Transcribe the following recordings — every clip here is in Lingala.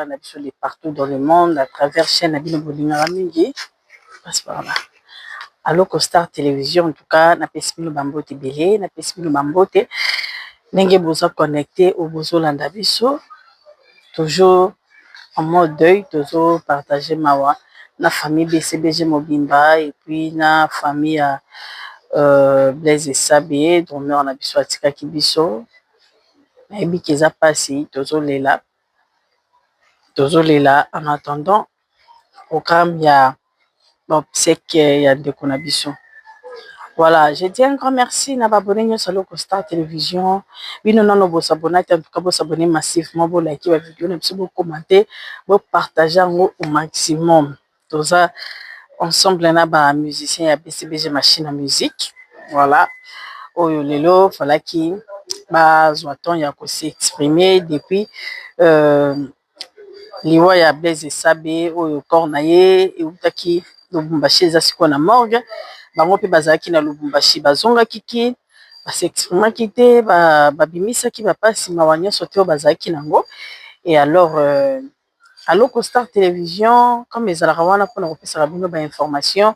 Ba na biso de partout dans le monde à travers chaine na bino bolingaka mingi pasi pardon allo costar television en tout cas na pesi bino ba mbote ebele na pesi bino ba mbote ndenge boza connecte ou bozo landa biso toujours en mode deuil tozo partage mawa na famille bcbg mobimba et puis na famille ya euh, Blaise Esabe drumeur na biso atikaki biso nayebi ke eza pasi tozo lela Tozo lela en attendant programme ya ba obseques ya ndeko na biso. Voila je dis un grand merci na ba abonnes nioso ya Locostar Television, bino nanu bo s'abonna te en tout cas bo s'abonner massivement, bo liker ba videos na biso, bo commenter, bo partager yango au maximum. toza ensemble na ba musiciens ya BCBG machine à musique voilà oyo lelo falaki bazwa temps ya ko s'exprimer depuis euh, liwa ya Blaise Esabe oyo corps na ye ewutaki Lubumbashi eza sikoyo na morgue bango mpe bazalaki na Lubumbashi bazongaki ki ba s'exprimaki te babimisaki ba bapasi mawa nyonso te oyo bazalaki nango et alors euh, Aloko star television comme ezalaka wana pona kopesaka bino ba information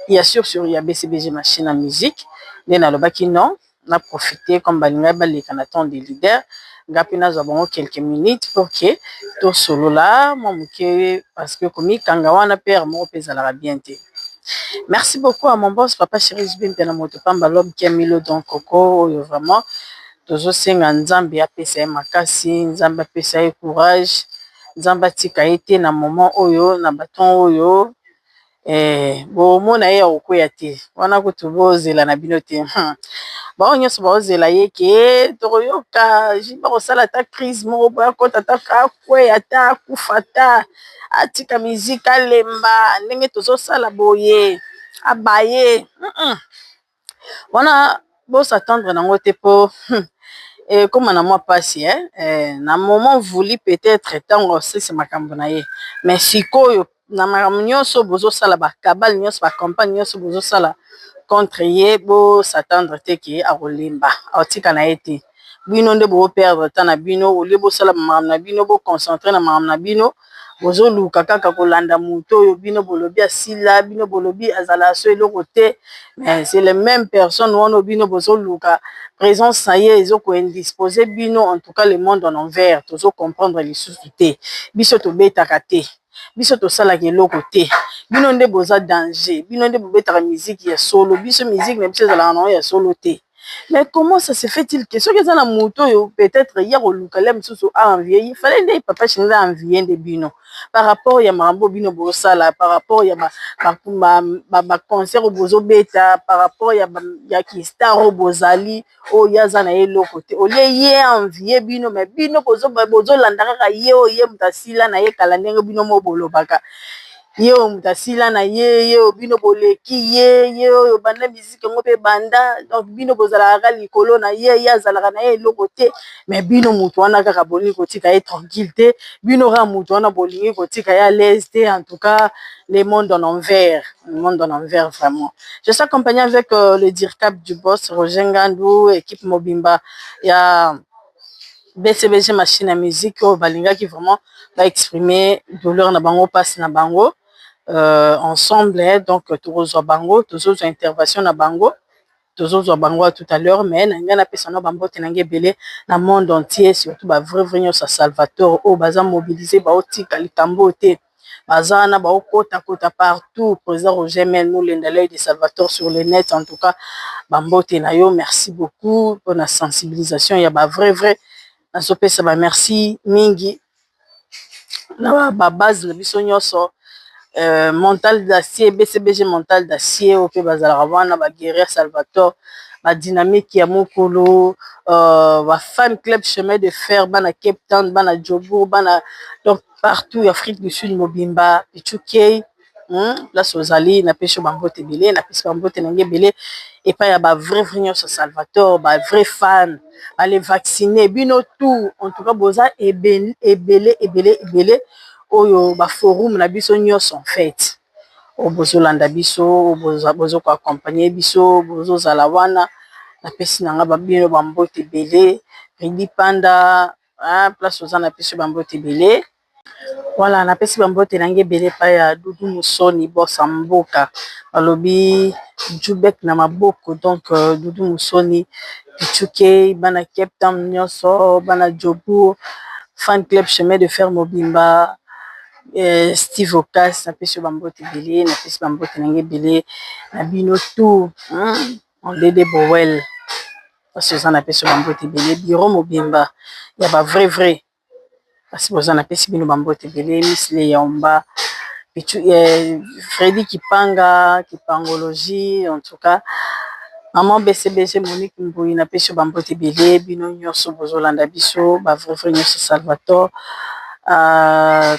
ya sur sur ya BCBG machine à musique nde nalobaki non na profite comme balingaki baleka na temps de leader nga pe nazwa bango quelques minutes pour que tosolola mua muke parce que komikanga wana pe heure moko pe ezalaka bien te merci beaucoup à mon boss papa Cheri JB mpiana moto pamba l'homme qui a mis l'eau dans coco oyo vraiment. Tozo senga nzambe apesa ye makasi nzambe apesa ye courage nzambe atika ye te na moment oyo na baton oyo eh bomona ye akokueya te wana kutu bozela na bino te hum bango nyonso baozela ye ke tokoyoka JB akosala ata crise moko boye akota ata akueya ata akufa ata atika musique alemba ndenge tozosala boye abaye hum. wana bo s'attendre nango te po hum ekoma na mwa pasi hein na moment voulu peut etre tangu akosilisa makambu na ye mais sikoyo na makambu nionso bozo sala ba cabale nionso ba campagne nionso bozo sala contre ye bo s'attendre te que ako lemba ako tika na ye te. bino nde bo perdre temps na bino au lieu bosala ba makambo na bino bo concentrer na makambo na bino bozoluka kaka kolanda moto oyo bino bolobi asila bino bolobi azala so eloko te mais c'est le même personne wana oyo bino bozoluka présence na ye ezo ko indisposer bino en tout cas le monde en envers tozo comprendre lisusu te biso tobetaka te biso tosalaka eloko te bino nde boza danger bino nde bobetaka miziki ya solo biso miziki na biso ezalaka na yango ya solo te. Mais comment ça se fait il que soki eza na moto oyo peut etre ye ako luka lia mosusu a envier ye, fallait nde papa Shindele a envier nde bino par rapport ya makambo oyo bino bozo sala par rapport ya ba concerts oyo bozo beta par rapport ya ki star oyo bozali oyo ye aza naye eloko te au lieu ye a envier bino mais bino bozo landa kaka ye oyo ye mutu asila naye kala ndenge bino moko bolobaka. ye oyo moto asila na ye ye oyo bino boleki ye ye oyo banda miziki yango mpe banda donc bino bozalaka kaka likolo na ye ye azalaka na ye eloko te mais bino moto wana kaka bolingi kotika ye tranquille te bino kaka moto wana bolingi kotika ye alaise te en tout cas le monde en envers le monde en envers vraiment je suis accompagné avec euh, le dircap du boss roger ngandu équipe mobimba ya yeah. bcbg machine ya musique oyo balingaki vraiment ba exprime douleur na bango mpasi na bango euh, ensemble donc tokozwa bango tozozwa intervention na bango tozozwa bango ya tout à l'heure mais na ngai napesa na bambote na ngai ebele na monde entier surtout ba vrai vrai nyonso ya salvatore oyo baza mobilise baotika likambo te baza wana bao kota kota partout president Roger mel mulenda l'oeil de salvator sur le net en tout cas ba mbote na yo merci beaucoup pona sensibilisation ya ba vrai vrai nazo pesa ba merci mingi na ba base na biso nionso euh, mental d'acier BCBG mental d'acier oyo mpe bazalaka wana ba guerrier salvator ba dynamique ya mokolo euh, ba fan club chemin de fer bana Cape Town bana Jobourg bana donc partout afrique du sud mobimba pitukey hum place ozali na pesi yo bambote ebele na pesi bambote na nge ebele epai ya ba vrai vrai nyonso salvator ba vrai fan bale vaccine bino tout en tout cas boza ebele ebele ebele ebele oyo ba forum na biso nyonso en fait oyo bozolanda biso bozoka accompagne biso bozozala wana na pesi na nga babino bambote ebele redi panda Ah, place oza na pesi bambote ebele wala na pesi bambote na nge ebele pa ya dudu musoni bosa mboka balobi jubek na maboko donc euh, dudu musoni pichuke bana cape town nyonso bana jobour fan club chemin de fer mobimba eh, steve ocas na pesi yo bambote ebele na pesi bambote na nge ebele na bino tout hmm? Mon dede Boel pasi oza na pesi yo ba mbote ebele bureau mobimba ya ba vrai vrai pasi boza na pesi bino ba mbote ebele miss Leomba Freddy Kipanga kipangologie en tout cas maman besebese Monique Mbuyi na pesi yo ba mbote ebele bino nioso bozo landa biso ba vrai vrai nioso Salvatore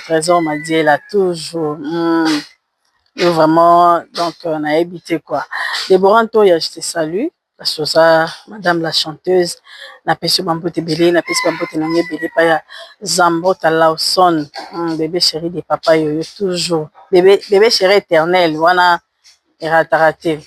Tresor Madiela toujours. Yo vraiment donc nayebi te quoi Deborah Ntoya je te salue parce que oza madame la chanteuse napesi yo ba mbote ebele napesi ba mbote na ngai ebele epai ya Zambota Lawson bebe cheri de papa yoyo toujours bebe cheri eternel wana erataka te.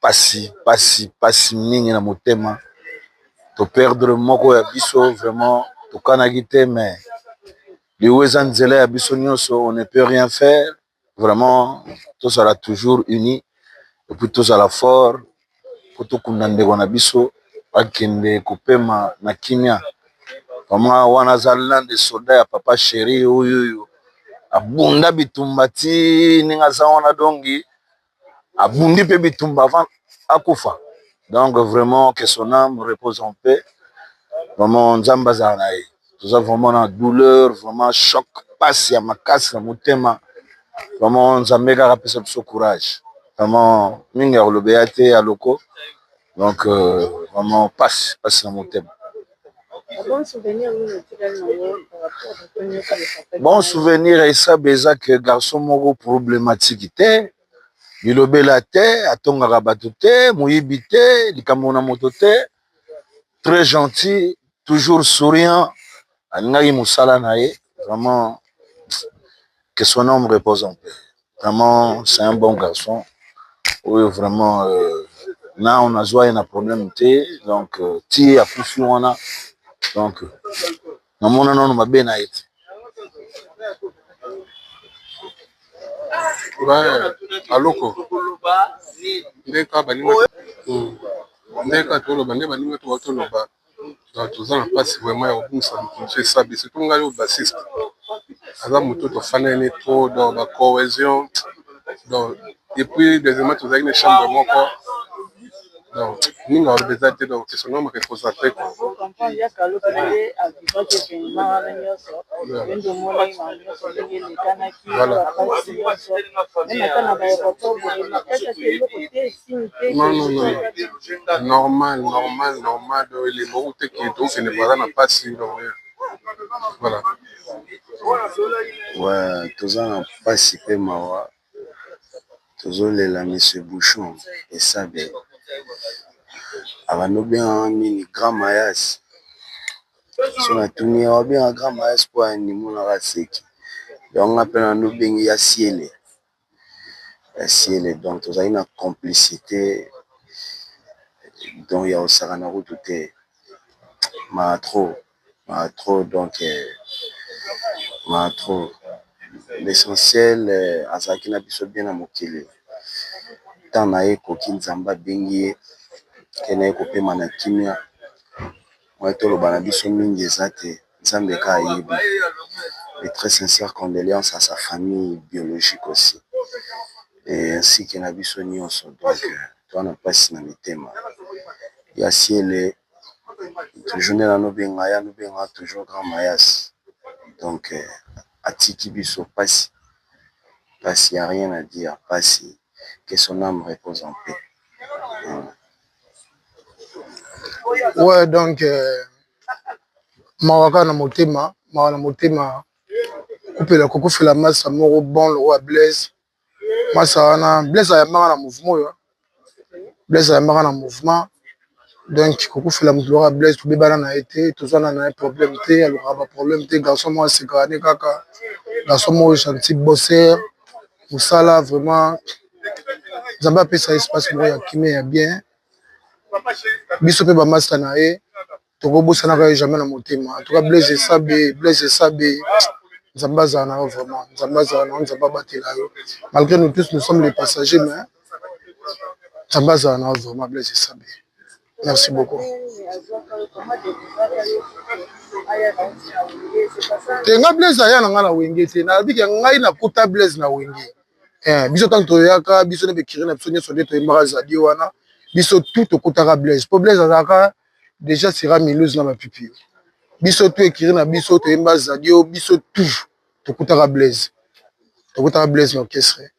pasi pasi pasi mingi na motema to perdre moko ya biso vraiment tokanaki te mais liwa eza nzela ya biso nyonso on ne peut rien faire vraiment tozala toujours uni epuis tozala fort po tokunda ndeko na biso akende kopema na kimia vraiment wana aza l'un de solda ya papa cheri oyoyo abunda bitumba ti ndenge aza wana dongi. abundi mpe bitumba avant akufa donc vraiment que son âme repose en paix vraiment nzambe azala na ye toza vraiment na douleur vraiment choc mpasi ya makasi na motema vraiment nzambe kaka apesa biso courage vraiment mingi ya kolobeya te ya loko donc euh, vraiment pasi pasi na motema bon souvenir esabe eza ke garçon moko problématique te bilobela te atongaka bato te moyibi te likambo na moto te très gentil toujours souriant alingaki mosala na ye vraiment Que son âme repose en paix. Vraiment, c'est un bon garçon. Oui, vraiment, euh, na on a joie na problème te. Donc, euh, ti a poussé on a. Donc, euh, na mon non ma bien a été. Ouais, aloko. Ndeka baninga. Ndeka tolo bande baninga to tolo ba. Toza na mpasi vrema ya kobungisa mokonzi oyo esabi surtout ngai oyo bassiste aza moto oyo tofanani na ye trop donc ba cohesion donc epuis deuxièmement tozalaki na chambre moko donc mingi aloba eza te donc question nao moke ekoza te quoi. non non non normal normal normal donc elemba okute ke tokende baza na mpasi donc voilà ouais toza na mpasi mpe mawa tozolela monsieur bouchon esabe abandi obengaka nini grand mayas so natuni ye obenga grand mayas mpo ya nini monaka seki donc nga mpe nanu obengi ya siele Ciel et donc tozali na complicite donc ya kosakana kutu te mawa trop mawa trop donc mawa trop l'essentiel azalaki na biso bien na mokili temps na ye ekoki Nzambe abengi ye akendeke kopema na kimia. Oyo toloba na biso mingi eza te nzambe ka ayebi et très sincère condoleances à sa famille biologique aussi ainsi que na biso nionso donc toza na pasi na mitema ya ciele toujours nde nazo benga ye azo benga nga toujours grand mayasi donc atiki biso pasi, pasi ya rien à dire pasi que son ame repose en paix. oyo donk mawaka na motema mawa na motema kupela kokufela masa moko bon lokola blaise masa wana blaise ayambaka na mouvema oyo blaise ayambaka na mouvema donk kokufela moto lokola blaise tobebana na ye te tozwana na ye probleme te alukaka ba probleme te garso moko asekani kaka garso moko gentil bosseur mosala vrema nzambe apesa espace moko ya kimia ya bien biso mpe bamasta na ye tokobosanaka ye jamais na motema entouka blaise esabe blaise esabe nzambe azala na yo vraiment nzambe azala na yo nzambe abatela yo malgré nous tous nous sommes les passagers mais nzambe azala na yo vraiment blaise esabe Merci beaucoup. te nga blaise aya na nga na wenge te nayebike ngai nakuta blaise na wenge eh, biso ntango toyaka biso nde bekiri na biso nyonso nde toyembaka zadi wana biso tu tokutaka blaise mpo blaise azalaka déjà sera miluse na mapipi biso tu ekiri na biso toyemba zadi o biso tu tokutaka blaise tokutaka blaise na orchestre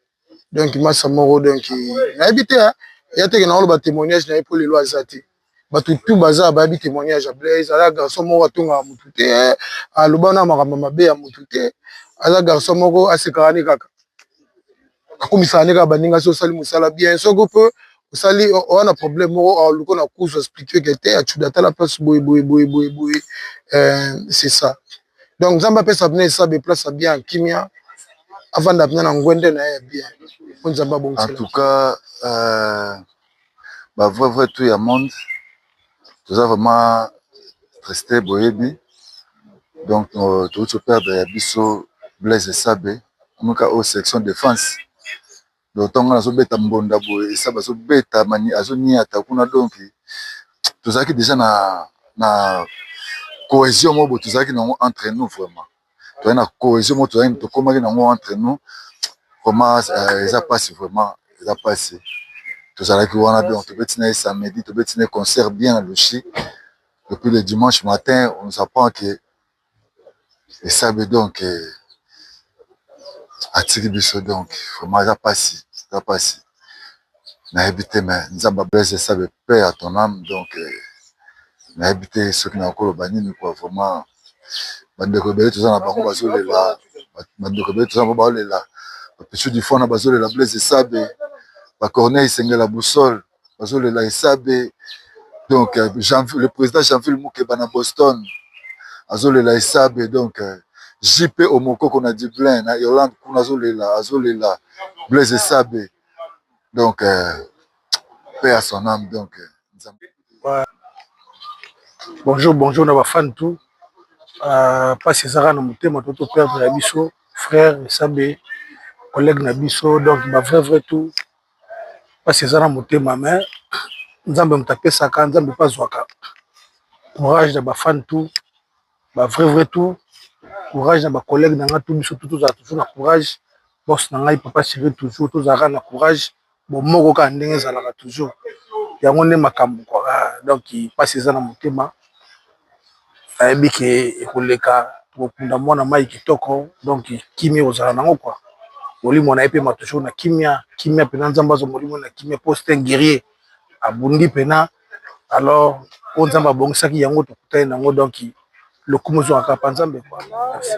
donc masa moko donc nayebi te hein. ya teke na oloba témoignage na ye mpo lelo aza te bato tu baza bayebi témoignage ya blaise aza garçon moko atongaka motu te aloba na makambo mabe ya motu te aza garçon moko asekaka ne kaka akomisaka ne kaka baninga so osali mosala bien soki mpe osali oza na problème moko aluko na kuzu explique ke te acuda tala place boye boye boye boye boye c'est ça donc nzambe apesa bino esabe place ya bien kimia avanda bino na ngwende na ye ya bien po nzambe abongisela en tout cas euh, ba vrai vrai tout ya monde toza vraiment triste boyebi donc euh, touti perdre ya biso blaise esabe amika oyo section défense donc ntango ngai nazobeta mbonda boye esa bazobeta mani azoniata kuna donki tozalaki deja na na cohesion moko boye tozalaki na yango entre nous vraiment tozali na cohesion moko tozalaki tokomaki na yango entre nous vraiment eza mpasi vraiment eza mpasi tozalaki wana donc tobeti na ye samedi tobeti na ye concert bien na lushi depuis le dimanche matin on nous apprend que esabe donk atiki biso donk vrema eza pasi eza pasi nayebi te me nzambe ablaise esabe paix à ton ame donk nayebi te soki na koloba nini kuwa vrema ba ndeko ebele toza na bango bazolela ba ndeko ebele toza na bango baolela ba pichou du fana bazolela blaise esabe ba corneille sengela boussole. bazolela esabe donc euh, le président janville mukeba na boston azolela esabe donc euh, jp omokoko na dublin na irlande kuna azolela azolela blaise esabe donc euh, pe à son âme donc bonjour bonjour na bafane tout mpasi euh, ezaka na motema to toperdre ya biso frère esabe collègue na biso donc bavrai vrai tout pasi eza na motema mais nzambe moto apesaka nzambe pe azwaka courage na ba fan tout ba vrai vrai tout courage na ba collegue na nga tout biso tout tozala toujours na courage boss na ngai papa Cyrille toujours tozala kaka na courage bomoko kaka ndenge ezalaka toujours yango nde makambu quoi donc pasi eza na motema. nayebi ke ekoleka tokokunda mwana mayi kitoko donc kimia ekozala na yango kua molimo na ye epema toujours na kimia kimia mpena nzambe azwa molimo na kimia po c'est un guerrier abundi mpena alors oyo nzambe abongisaki yango tokutani na yango donc lokumu ezwaka kaka pa nzambe kua merci.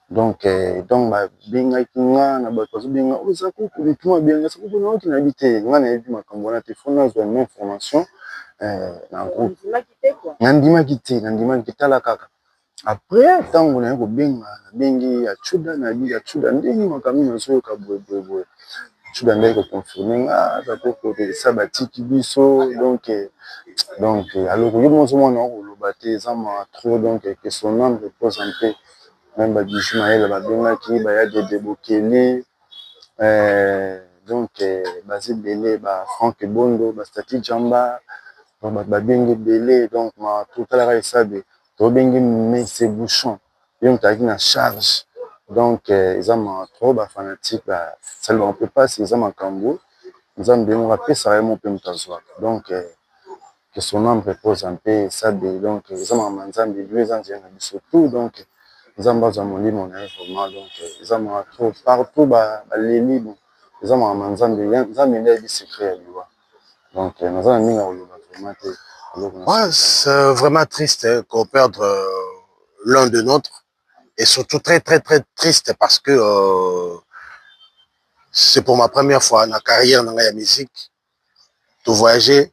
donc eh, donc babengaki nga na bato bazobenga oyo oh, eza kuku mituma abenga sa kuku nayoki na yebi te nga nayebi makambo wana te fo nazwa ma information eh, na groupe nandimaki te nandimaki te tala kaka après ntango naye kobenga nabengi ya chuda nayebi ya chuda ndenge makambo nazoyoka boyeboyeboye chuda ndenge koconfirme nga aza kokotelesa batiki biso donc eh, donc eh, aloko yo mozomwana okoloba te eza ma trop donc que son âme repose en paix meme ba bijou mayele ba bengaki ba ya dede bokeli donc baza ebele ba franck ebondo ba staty djamba donc ba bengi ebele donc mawa trop tala kaka esabe to bengi mese bouchon ye mutu azalaki na charge donc eza mawa trop ba fanatique ba sali bango pe pasi eza makambu nzambe ye moko apesaka ye moko pe mutu azwaka donc. que son ame repose en paix Esabe donc eza makambo ya Nzambe lieu eza nzela na biso tout donc Nzambe azua molimo na ye vraiment donc eza mawa trop partout ba leli bon eza makambo ya Nzambe Nzambe nde ayebi secret ya liwa donc naza na ndenge ya koloba vraiment te eloko na Ouais, c'est vraiment triste hein, qu'on perdre euh, l'un de notre et surtout très très très triste parce que euh, c'est pour ma première fois na carrière na ngai ya musique to voyager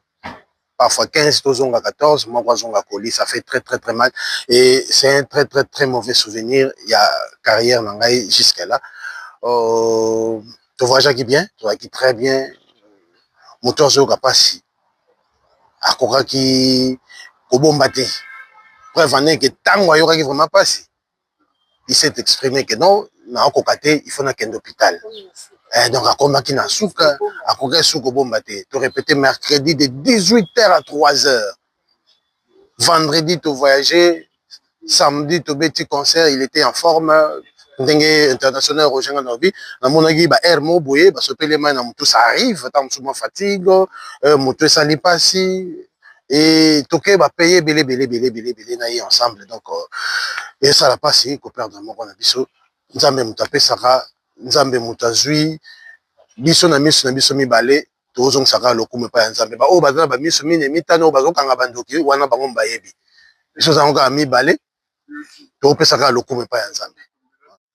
parfois 15 tozonga 14 moko azonga colis ça fait très très très mal et c'est un très très très mauvais souvenir ya carrière na ngai jusqu'à là euh, to voyageaki bien tozalaki très bien moto azoyoka mpasi akokaki kobomba te preuve ane ke ntango ayokaki vraiment mpasi il s'est exprime que non nakokoka te il faut nakende hopital donc akomaki na suka akokaki suka kobomba te to repete mercredi de 18 heures à 3 heures vendredi to voyage samedi tobeti concert il était en forme ndenge international roger nga nalobi namonaki ba aire moko boye basopeli mai na motu ça arrive ntango mosusu mwa fatigue motu esali mpasi et toke ba paye ebele ebele ebele ebele ebele na ye ensemble donc euh, esala mpasi koperdre moko na biso nzambe moto apesaka nzambe moto azwi biso na miso na biso mibale tozongisaka lokumu epai ya nzambe baoyo baza na bamiso mine mitano oyo bazokanga bandoki wana bango bayebi biso ezango kaka mibale topesaka lokumu epai ya nzambe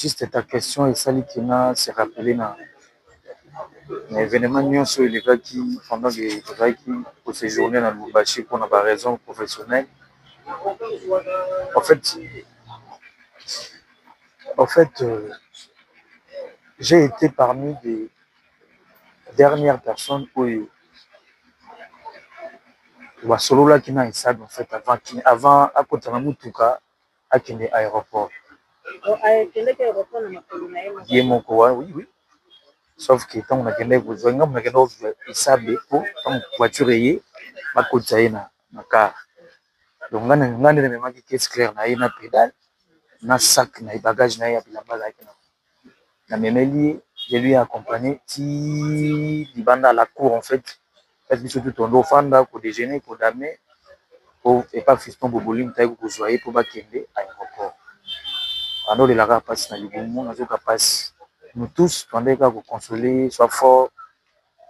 Juste ta question esali que na se rappeler na evenement nionso oyo elekaki pendant que tozalaki ko sejourner na Lubumbashi pona ba raisons professionnelles, en fait j'ai ete parmi des dernières personnes oyo basololaki na Issa avant akota na mutuka akende aeroport ye moko wa oui oui sauf que tango na kendaki ko zua ye nga mutu na kendaki ko zua esabe po tango voiture eye ba kotisa ye na car donc nga nde na memaki caisse claire na ye na pedale na sac na ye bagage na ye ya bilamba azalaki nango na memeli ye je lui ai accompagne ti libanda ya la cour en fait place biso tout tondo fanda ko dejeuner ko damer po epa fiston boboling toyaki ko kozua ye po ba kende aeroport banda olelaka pasi na libumu nazo yoka pasi nous tous tobandaki kaka ko consoler ye soit fort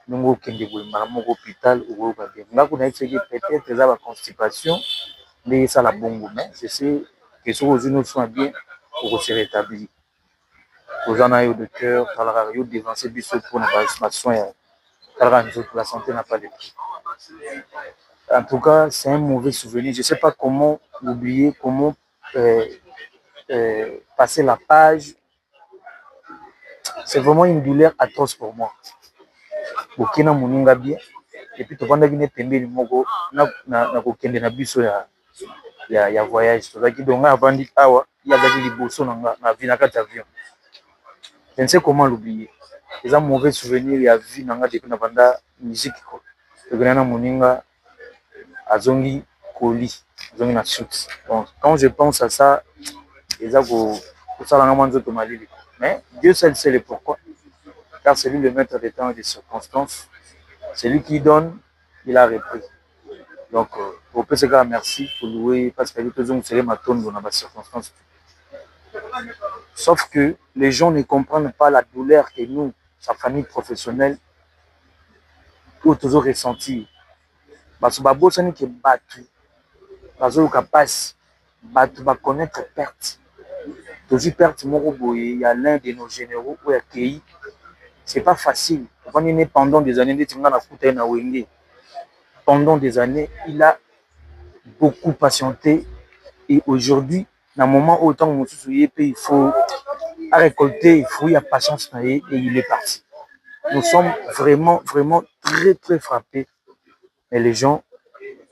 ndenge okende boye mbala moko hopital okoyoka bien nga kuna yebisaki ye peut etre eza ba constipation nde esala bongo mais je sais que soki ozwi no soin bien oko se retablir toza na yo de coeur tala kaka yo o devancer biso pona ba soins ya tala kaka nzoto la sante n'a pas de prix en tout cas c'est un mauvais souvenir je sais pas comment oublier comment passer la page C'est vraiment une douleur atroce pour moi boke na muninga bien et puis tofandaki nde pembeni moko na kokende na biso ya voyage tozalaki donc ngai navandi awa ye azalaki liboso na nga na kati ya avion je ne sais comment l'oublier eza mauvais souvenir ya vie na nga depuis nabanda musique tokenda na muninga azongi colis azongi na suki donc quand je pense à ça eza kosala nga mua nzoto malili mais Dieu seul sait le pourquoi car c'est lui le maitre des temps et des circonstances celui qui donne il a repris donc topesa ye kaka merci to loue ye parce que ayebi tozongisa ye matondo na ba circonstances sauf que les gens ne comprennent pas la douleur que nous sa famille professionnelle oyo tozo ressentir batu babosani que batu bazoyoka pasi batu ba connaitre perte tozui perte moko boye ya l'un de nos generaux oyo akeyi c'est pas facile tofandi naye pendant des annees neti nga nakuta ye na wenge pendant des annees il a beaucoup patiente et aujourd'hui na moment oyo tango mosusu ye pe il faut a recolter fruit ya patience na ye et il est parti nous sommes vraiment vraiment très très frappes mais les gens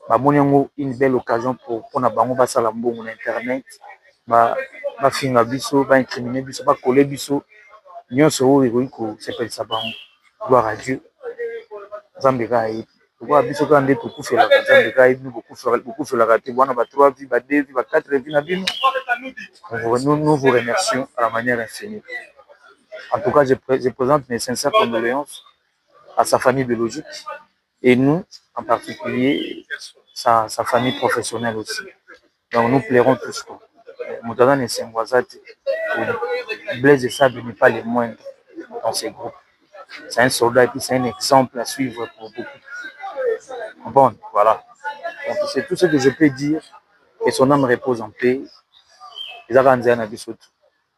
ba moni yango une belle occasion pona bango ba sala mbongo na internet ba finga biso ba incriminer biso ba coller biso nionso oyo ekoki ko sepelisa bango gloire à Dieu nzambe kaka ayebi. Lokola biso kaka nde tokufelaka Nzambe kaka ayebi bino bokufelaka te bana ba trois vie ba deux vie ba quatre vie na bino nous vous remercions à la manière infinie en tout cas je présente mes sincères condoléances à sa famille biologique et nous en particulier sa, sa famille professionnelle aussi donc nous pleurons tous tout moto aza na esengo aza te Blaise Esabe n'est pas le moindre dans ce groupe c'est un soldat et puis c'est un exemple à suivre pour beaucoup comprendre voilà donc c'est tout ce que je peux dire que son âme repose en paix eza kaka nzela na biso tout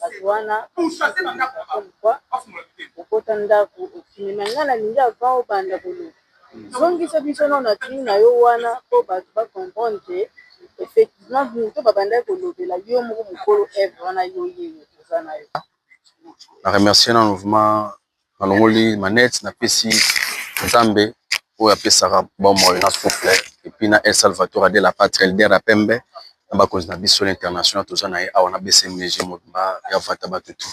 batu wana okota ndaku okimi mais nga nalingi avant obanda koloba zongisa biso nao na kin nayo wana po batu ba comprendre que effectivement mutu oyo babandaki kolobela yo moko mukolo oeuvre wana yo oyeyo oza nayo. Na remercier nanu vraiment nalongoli manette napesi nzambe oyo apesaka bomoi na souffle epuis na el salvator de la patrie elder ya pembe na bakonzi na biso na international toza na ye awa na bcmg mobimba ya vata batu tu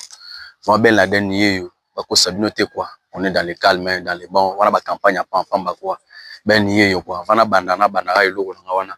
ma belle na deni yeyo bakosa bino te kua on est dans le calme dans le bon wana ba campagne ya pampamba kua beni yeyo kua avant nabanda nabandaka eloko na nga wana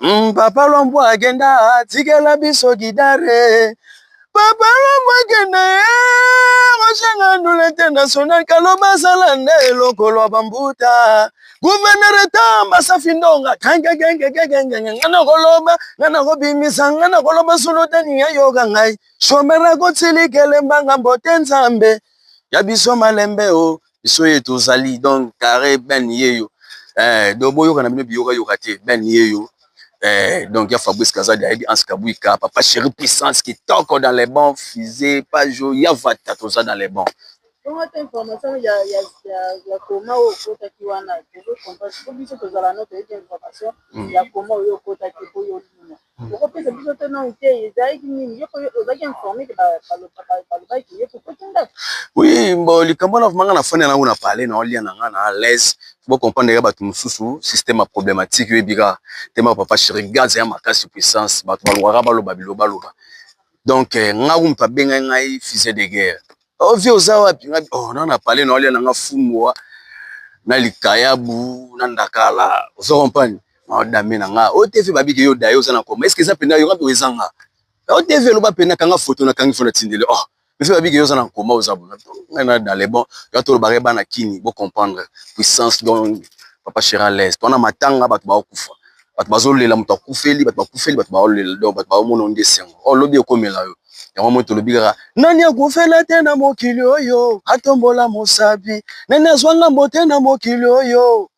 Mm, papa lombo agenda atikela biso gidare papa lombo agenda osenga eh, ndula international kaloba asala nde eloko lwa bambuta guvernere tamba safi ndonga kangegengegegengenge nga nakoloba nga nakobimisa nga nakoloba solo tani yayoka ngai shomera kotsilikele mbanga mbote nzambe ya biso malembe o oh. biso ye tozali donc carré ben yeyo eh, donc boyoka na bino biyoka yoka te ben yeyo eh, donc ya fabrice kazadi ayebi anse kabuika papa chéri puissance kitoko dans les bons fise pajo ya vata toza dans les bons bongo te information ya ya ya ya koma oyo okotaki wana tozo comprendre ko biso tozala no toyebi information ya koma oyo okotaki oyo olina Okopesa biso to non te ezalaki nini yoko ozaki informe ke balobaki ke yoko koti ndako oui mbo likambo wana vraiment nga na fani yango na parler na olia na nga na alaise bo comprendre ya bato mosusu système ya problématique yo ebika te ma papa chéri gaz ya makasi puissance bato balukaka baloba biloba loba donc eh, nga moto abengaki ngai fusée de guerre Oh vie oza wapi nga oh na na pale na olia na nga fungwa na likayabu na ndakala ozo compagnie na odame na nga o TV babi ke yo dayo oza na koma est-ce que eza pena yo nga pe eza nga o TV loba pena kanga photo na kangi fona tindele oh mais fe babi ke yo oza na koma oza bona nga na dans les bons yo to lobare bana kini bo comprendre puissance donc papa Chirales pona matanga bato ba okufa bato bazolela moto akufeli bato bakufeli bato baolela donc bato baomona nde esengo o oh, lobi ekomela yo yango moi tolobi kaka nani akufela te na mokili oyo atombola mosapi nani azwa ngambo te na mokili oyo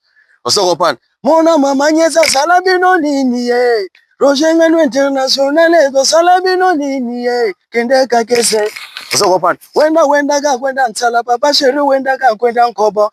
osokopana mona mama nyesi asala bino nini ye roger ngano international ekosala bino nini ye kende kakese osokopana wenda wendaka kwenda nsala papa sheri wendaka kwenda nkobo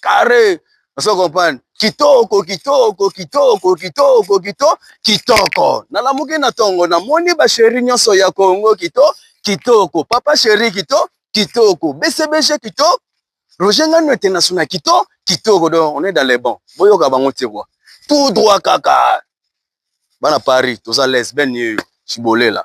carre ozo comprendre kitoko kitoko kitoko kitoko kito kitoko nalamuki na tongo namoni basheri nyonso ya kongo kito kitoko papa sheri kito kitoko bcbg kito roger ngano international kito kitoko donc on est dans le bon boyoka bango te kwa tout droit kaka bana paris toza lesbienne yeyo cibolela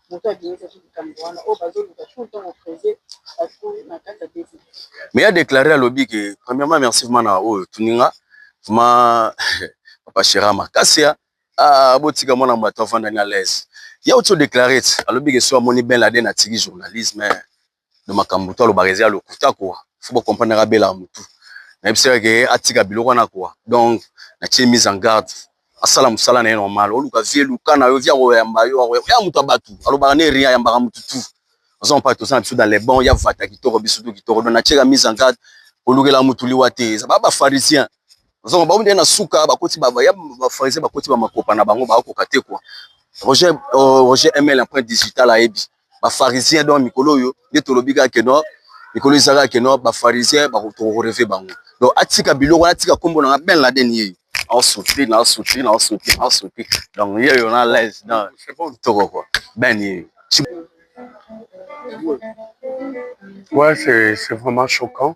Mais a declare alobi ke premièrement merci vraiment na oyo otuni nga vraiment papa Shera makasi ah botika mwana moto avanda na l'aise ya oti o declare alobi ke so amoni Ben Laden atiki journalisme donc makambo to alobaka eza ya lokuta quoi faut bo comprendre naka bela mutu nayebisi ye ke atika biloko wana quoi donc natie mise en garde asala mosala na ye normal oluka vie eluka na yo vie akoyamba yo akoyamba moto ya bato alobaka ne rien ayambaka motu tout oza mopaka toza na biso dans les bons ya vata kitoko biso to kitoko donc natieka mise en garde kolukela motu liwa te eza ba bafarisien ozongo baomi nde na suka bakoti ya bafarisien bakoti bamakopa na bango bakokoka te quoi roger euh, roger ml empreinte digitale ayebi ba pharisiens donc mikolo oyo nde tolobi kaka que non mikolo eza kaka que non ba pharisiens tokoreve bango donc atika biloko wana atika nkombo na nga ben laden yeyo aosouti na osouti na osouti na osouti donc yeyo na laise donc toko kua ben yeyo Ouais, c'est vraiment choquant.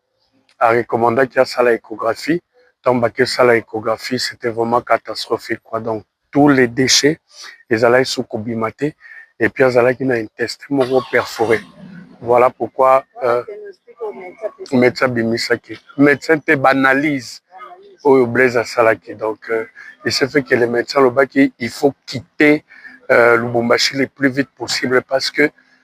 a recommanda ki asala echographie tango bake sala echographie c'etait vraiment catastrophique quoi donc tout les dechets ezalaki suki kobima te et puis azalaki na intestin moko perfore voilà pourquoi euh, médecin abimisaki médecin te banalyse oyo blaise asalaki donc euh, il se fait que le médecin alobaki il faut quitter euh, lubumbashi le plus vite possible parce que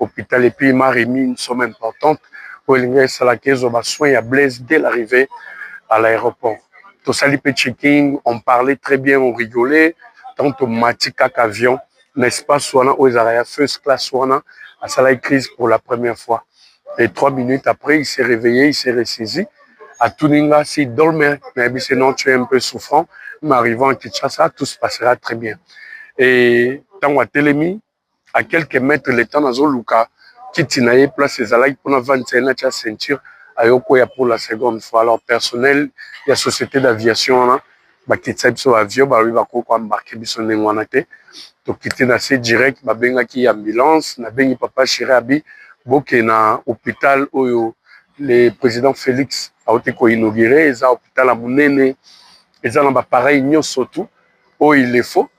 hopital epuis il m'a remis une somme importante oyo elingaki esalaka ezwa ba soins ya Blaise dès l'arrivee à l'aeroport tosali pe checking on parlait très bien on rigolait tango tomati kaka avion na espace wana oyo ezalaka ya first classe wana asalaki crise pour la première fois et trois minutes après il s'est reveille il s'est ressaisi atuni nga si dolme nayebisi ye non tu es un peu souffrant mais arrivant à Kinshasa tout se passera très bien et tango atelemi à quelques mètres le temps nazo luka kiti na ye place ezalaki mpo navandisa ye natya ceinture aye okweya pour la seconde fois alors personnel ya société d'aviation wana bakitisa biso bavio balobi bakoki koembarke biso ndenge wana te tokiti na se direct babengaki ambulance nabengi papa chiri abi bokee na hôpital oyo le président félix auti koinaugure eza hôpital ya monene eza na bapareil nyonso tout oyo il le faut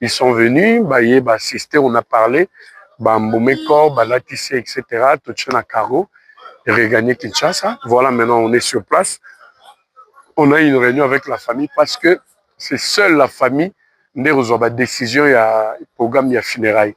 ils sont venus baye ba assiste on a parle ba mbume corps balatisi etc totie na cargo regagner Kinshasa voilà maintenant on est sur place on a une réunion avec la famille parce que c'est seule la famille nde kozwa ba décision ya programme ya funérailles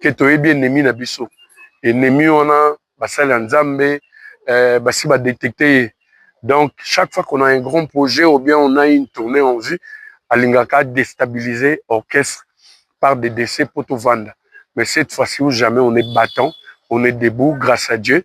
ke toyebi ennemi na biso ennemi wana basali ya nzambe euh, basi badetecte ye donc chaque fois qu'on a un grand projet ou bien on a une tournée en vue alingaka déstabiliser orchestre par des décès mpo tovanda mais cette fois-ci ou jamais on est battant on est debout grâce à dieu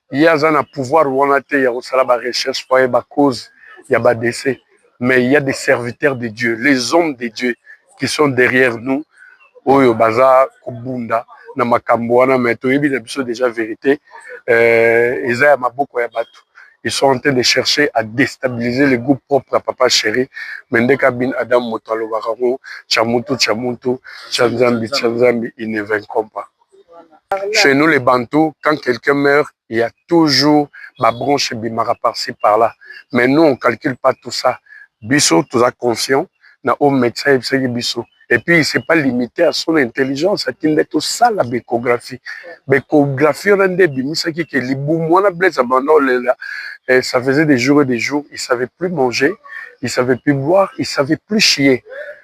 ye aza na pouvoir wana te ya kosala ba recherche po ayeba cause ya ba dese mais il ya des serviteurs de dieu les hommes de dieu qui sont derrière nous oyo baza kobunda na makambo wana mais toyebi na biso déjà verité euh, eza ya maboko ya bato ils sont en train de chercher à déstabiliser le groupe propre à papa chéri mais nde kabin adam moto alobaka ngo chamutu chamutu chanzambi chanzambi il ne vaincront pas chez nous les bantous quand quelqu'un meurt il ya toujours ba branche ebimaka par ci par là mais nous on calcule pas tout ça biso toza conscient na oyo médecin ayebisaki biso et puis il s'est pas limité à son intelligence ati nde tosala baecographie baecographie wana nde ebimisaki ke libumu wana blaise abanda olela eh, ça faisait des jours et des jours il savait plus manger il savait plus boire il savait plus chier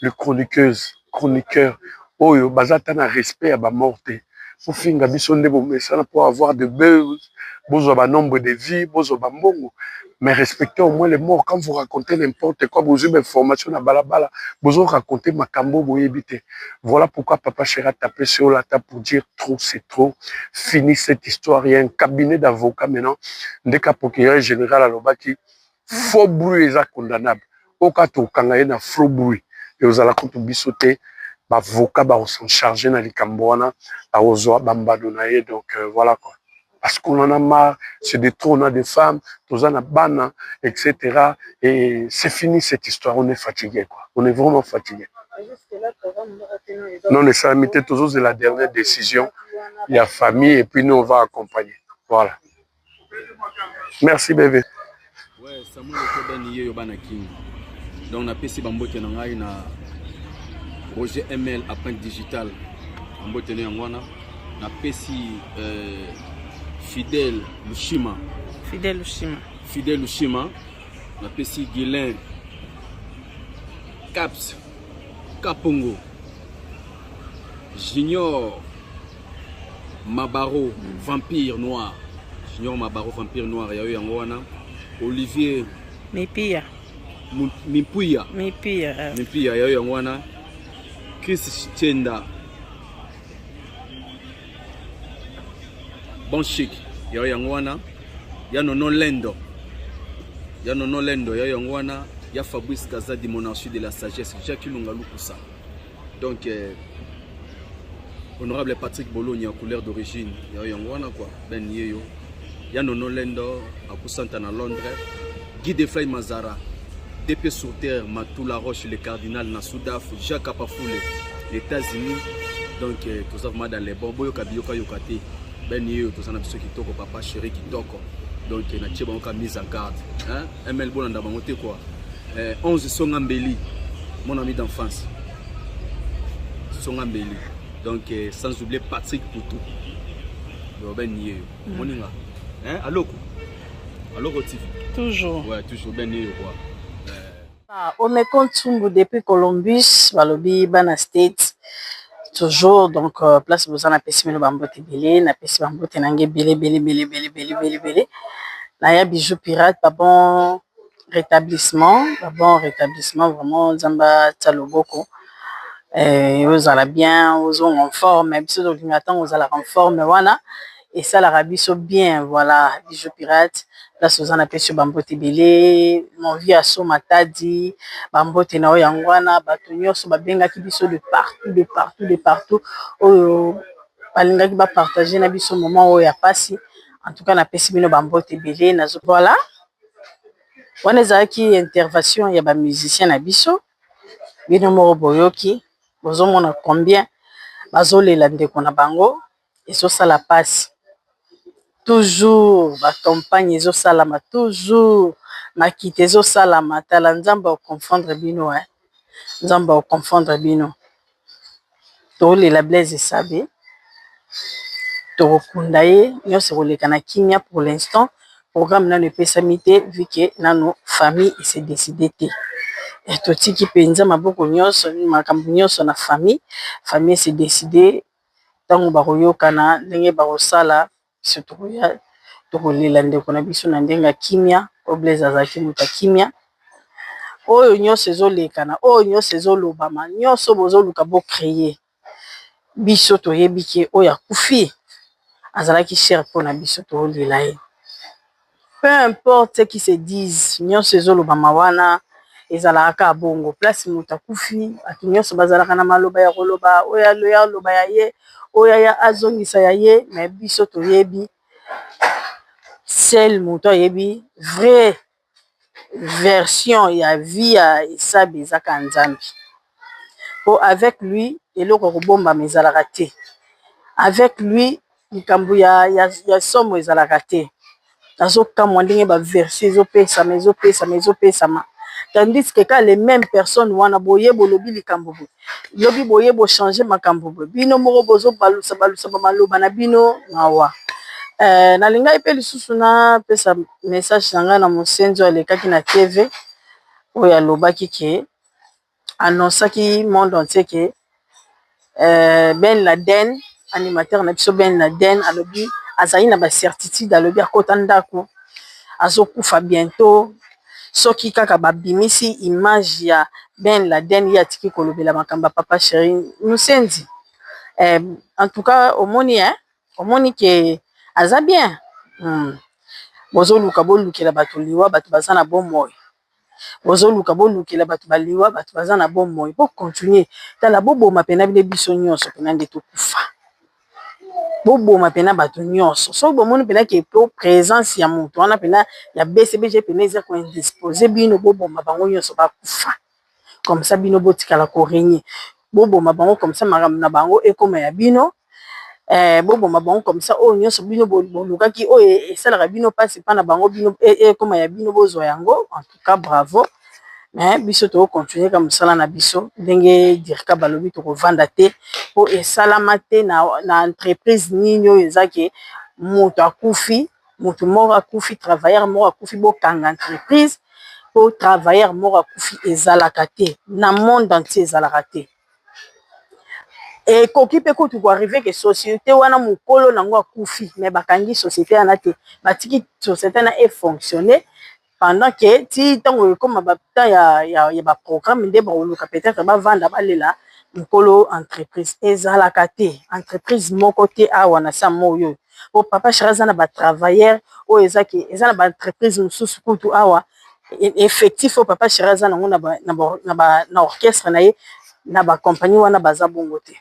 le chroniqueuse chroniqueur oyo baza ata na respect ya ba morts te bofinga biso nde bomesana po avoir de buzz bozwa ba nombre de vue bozwa ba mbongo mais respecter au moins les morts quand vous racontez n'importe quoi bozwi ba information na bala bala bozo raconter makambu oyo boyebi te voilà pourquoi papa cheri a taper sur yo ata pour dire trop c'est trop fini cette histoire il ya un cabinet d'avocat maintenant nde ka procureur general alobaki faux bruit eza condamnable oyo kaka tokokanga ye na faux bruit ekozala kutu biso te bavoka bakosan charge na likambo wana akozwa bambano na ye donc euh, voilà quoi parce qu'on en a marre c'est de trop on a des femmes toza na bana etc et c'est fini cette histoire on est fatigué quoi on est vraiment fatigué non esalami te tozozela dernière décision ya famille et puis nous on va accompagner voilà merci bebe ouais, samuel ekobeni yeyo bana kingi donc napesi bambote na ngai na roger ml apprinte digital bambote na yango wana napesi euh, fidèle lushima fidèle lushima fidèle lushima napesi guilin caps kapongo junior Mabaro vampire noir junior Mabaro vampire noir ya yo yango wana Olivier Mipia Mimpuya Mipia Mipia ya yo yango wana Chris Chenda bon chic ya yo yango wana ya nono lendo ya nono lendo ya yo yango wana ya Fabrice Kazadi monarchie de la sagesse Jacques Lunga Lukusa donc euh, honorable patrick bologna couleur d'origine yayo yango wana kua ben ye yo ya nono lendo akusanta na londres guy de fly mazara dp sur terre matula roche le cardinal na sudaf jacques apafule états-unis donc euh, toza vraimen dans les bon boyoka biyokayoka te ben ye yo toza na biso kitoko papa chéri kitoko donc euh, natie bango ka mise en garde hein? ML bolanda bango te quoi. Eh, 11 songa mbeli mon ami d'enfance. Songa mbeli. Donc eh, sans oublier Patrick Poutou. Robin Nier. Mm. Moninga. Hein, aloko. Aloko TV. Toujours. Ouais, toujours ben Nier quoi. Ah, Omeko Ntumbu depuis Columbus, balobi bana States. Toujours donc euh, place boza na pesi mino bambote ebele na pesi bambote na nge ebele ebele ebele ebele ebele ebele ebele na ya bijou pirate ba bon rétablissement ba bon rétablissement vraiment nzambe atya loboko eh, ozala bien ozonga en forme biso tolinga ntango ozalaka en forme wana esalaka biso bien voilà bijou pirate place oza na pesi yo ba mbote ebele mon vieux asso matadi ba mbote na yo yango wana batu nioso ba bengaki biso de partout de partout de partout oyo ba lingaki ba partager na biso moment oyo ya pasi en tout cas na pesi bino ba mbote ebele nazo voilà wana ezalaki intervention ya ba musiciens na biso bino moko boyoki bozo mona combien bazo lela ndeko na bango ezo sala pasi toujours ba compagne ezo salama toujours makita ezo salama tala nzambe ako confondre bino hein nzambe ako confondre bino tozo lela Blaise esabe toko kunda ye nionso eko leka na kimia pour l'instant programme nanu epesami te vu que nanu famille e se decider te totiki penza maboko nionso makambu nionso na famille, famille e se decider. ntango bakoyokana ndenge bakosala biso tokoya tokolela ndeko na biso na ndenge ya kimya po Blaise azalaki moto ya kimya oyo nyonso ezolekana oyo nyonso ezolobama nyonso bozoluka bo cree biso toyebi ke oyo akufi azalaki chere mpo na biso tokolela ye. Peu importe ce qui se dise nionso ezo lobama wana ezalaka kaka bongo place mutu akufi batu nionso bazalaka na maloba ya koloba oyo aya aloba ya ye oyo aya azongisa ya ye mais biso toyebi seul mutu ayebi vrai version ya vie ya esabe eza kaka nzambe po avec lui eloko ekobombama ezalaka te avec lui. likambo ya, ya, ya somo ezalaka te nazokamwa ndenge ba verset ezopesama ezopesama ezopesama tandis que kaka le meme personne wana boye bolobi likambo boye lobi boye bo change makambo boye bino moko bozobalusa balusa ba maloba na bino mawa eh, nalingaki mpe lisusu napesa message na ngai na mosenzi oyo alekaki na tv oyo alobaki ke annoncaki monde entier que Ben Laden animateur na biso Ben Laden alobi azali na ba certitudes alobi akota ndaku azokufa bientot soki kaka babimisi image ya Ben Laden ye atiki kolobela makambo ya Papa Cheri musenzi en tout cas omoni hein omoni que aza bien bozoluka bolukela batu liwa batu baza na bomoi. bozoluka bolukela bato baliwa bato baza na bomoi bo continuer tala boboma pena bino biso nyonso pena nde tokufa boboma pena bato nyonso soki bomoni pena ke po presence ya moto wana pena ya bcbg pena eza ko indispose bino boboma bango nyonso bakufa. comme ça bino botikala ko regner boboma bango comme ça makambo na bango ekoma ya bino eh boboma bango comme ça oyo nyonso bino bolukaki oyo esalaka bino mpasi mpo na bango bino ekoma ya bino bozwa yango en tout cas bravo mais biso toko continuer kaka mosala na biso ndenge Dircab alobi tokovanda te mpo esalama te na entreprise nini oyo eza ke moto akufi mutu moko akufi travailleur moko akufi bokanga entreprise po travailleur moko akufi ezalaka te na monde entier ezalaka te ekoki pe kutu ko arrive que societe wana mukolo nango akufi mais bakangi societe wana te batiki societe wana e fonctionne pendant que ti tango ekoma ba temps ya ya ba programme nde bako luka peut etre ba vanda ba lela nkolo entreprise ezalaka te entreprise moko te awa na sa moi oyo po papa cheri aza na ba travailleur oyo eza ke eza na ba entreprise mosusu kutu awa effectif oyo papa cheri aza nango na ba na orchestre na ye na ba compagnie wana baza bongo te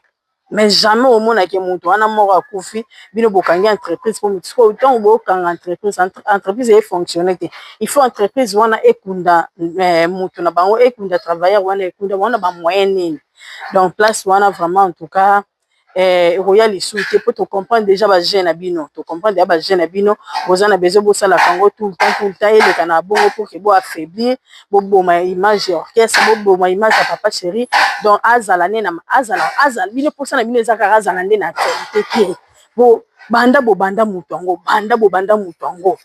mais jamais omona ke mutu wana moko akufi bino bokangi entreprise po mutu sikoyo tangu bokanga entreprise entreprise eye fonctionne te il faut entreprise wana ekunda mutu na bango ekunda travailleur wana ekunda bango na ba moyen nini donc place wana vraiment en tout cas ekoya lisusu te po to comprendre dejà ba jeux na bino to comprendre dejà ba jeux na bino boza na besoin bosalaka yango tout le temps tout le temps eleka na bongo pour que bo affaiblir boboma ya image ya orchestre boboma image ya papa chéri donc azala nde na azala azala bino mposa na bino eza kaka azala nde na actualité te bo banda bobanda moto yango banda bobanda moto yango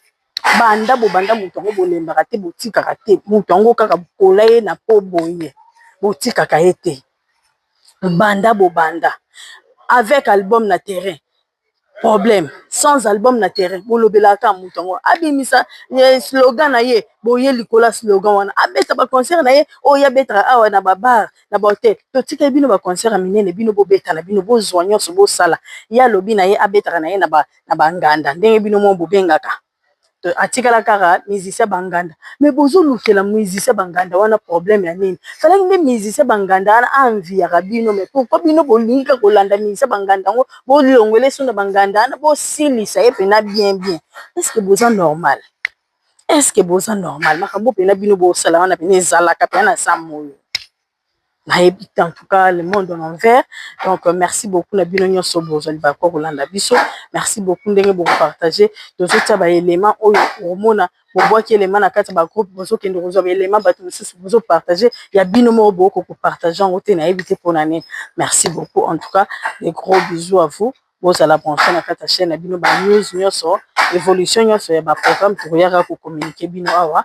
banda bobanda moto yango bolembaka te botikaka te moto yango kaka bokola ye na po boye botikaka ye te banda bobanda avec album na terrain problème sans album na terrain bolobelaka moto yango abimisa eh, slogan na ye boye likolo ya slogan wana abeta baconcert na ye oyo oh, abetaka awa na babar na bahotel totikali bino baconcert ya minene bino bobeta na bino bozwa nyonso bosala ye alobi na ye abetaka na ye na banganda ndenge bino mo bobengaka atikala kaka musicien banganda me bozolukela musicien banganda wana problème ya nini salaki nde musicien banganda wana enviyaka bino me pourkui bino bolingi ka kolanda musicien banganda yango bolongwele so na banganda wana bosilisa ye mpena bien bien eske boza normal eske boza normal makambo mpena bino bosala wana pena ezalaka pena na zamboe nayebi te en tout cas le monde en envers donc merci beaucoup na bino nionso bozali ba ko kolanda biso merci beaucoup ndenge bo partage tozotia ba element oyo omona bobwaki element na kati ya ba groupe bozokende kozwa ba element batu misusu bozo partage ya bino moko bokoki ko partage yango te nayebi te pona nini merci beaucoup en tout cas de gros bisous à vous bozala branche na kati ya chaine na bino ba news nionso evolution nionso ya ba programme tokoya kaka ko communique bino awa.